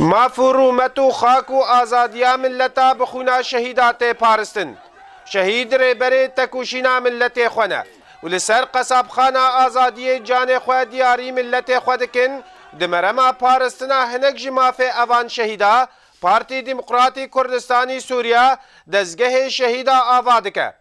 Maf û rûmet û xak û azadiya milleta bi xwîna şehîda tê paristin. Şehîd rêberê tekoşîna milletê xwe ne û li ser qesabxana azadiyê canê xwe diyarî milletê xwe dikin, di merema paristina hinek ji mafê evan şehîda Partî Demokratî Kurdistanî Sûriya dezgehê şehîda ava dike.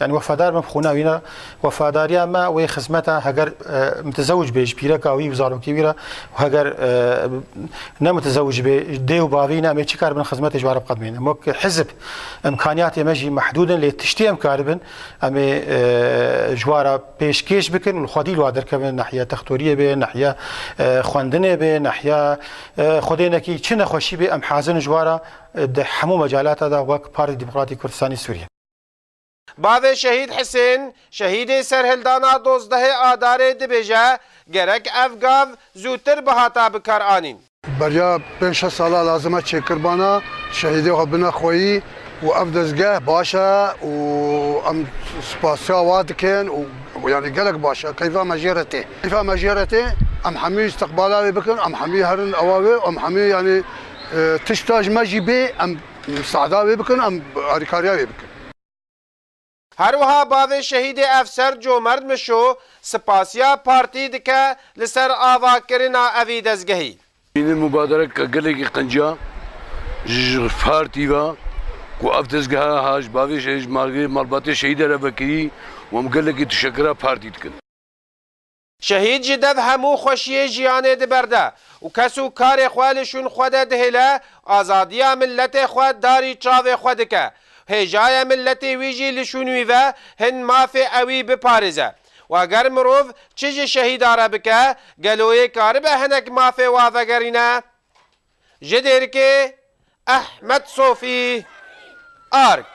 Yanî wefadar bim xwîna wî re, wefadariya me wê xizmeta heger mitizewij bê ji pîreka wî û zarokê wî re û heger ne mitizewij bê dê û bavê wî ne em ê çi karibin xizmetê ji we re biqedimînin. Em wek hizb îmkanîyatê me jî mehdûd in lê tiştê em karibin em ê ji we re pêşkêş bikin û li xwedî li we derkevin nehiya textorîyê bê, nehiya xwendinê bê, nehiya xwedê nekî çi nexweşî bê em hazir in ji we re di hemû mecalata de wek Partî Demokratîk Kurdistanê Sûrîyê. Bavê Şehîd Hisên, şehîdê serhildana dozdehê Adarê dibêje, Gerek ev gav zûtir bihata bikar anîn. Beriya pênc şeş sala lazim e çêkirbana şehîdê xwe bine xweyî û ev dezgeh baş e û em spasiya wan dikin û yanî gelek baş e. Keyfa me jê re tê. Keyfa me jê re tê. Em hemû îstiqbala wê bikin, em hemû herin ava wê û em hemû yanî tişta ji me jî bê em Musada wê bikin, em alîkariya wê bikin. Her wiha bavê şehîdê Efser Comerd Mişo spasiya partî dike li ser avakirina evî dezgehî. Îndî mubadereke gelekî qenciya ji ji partî ve ku ev dezgeha ha ji bavê ji malbatê şehîde re vekirî û em gelekî tişekira partî dikin. Şehîd ji dev hemû xweşiyê jiyanê diberde û kes û karê xwe li şûn xwe de dihêle, azadiya miletê xwe darî çavê xwe dike. Hêjaye miletê wî jî li şûn wî ve hin mafê ewî biparêze. Wa ger mirov çi ji şehîda re bike, gelo yê karibe hinek mafê wa vegerîne? Ji Dêrikê, Ehmed Sofî, ark.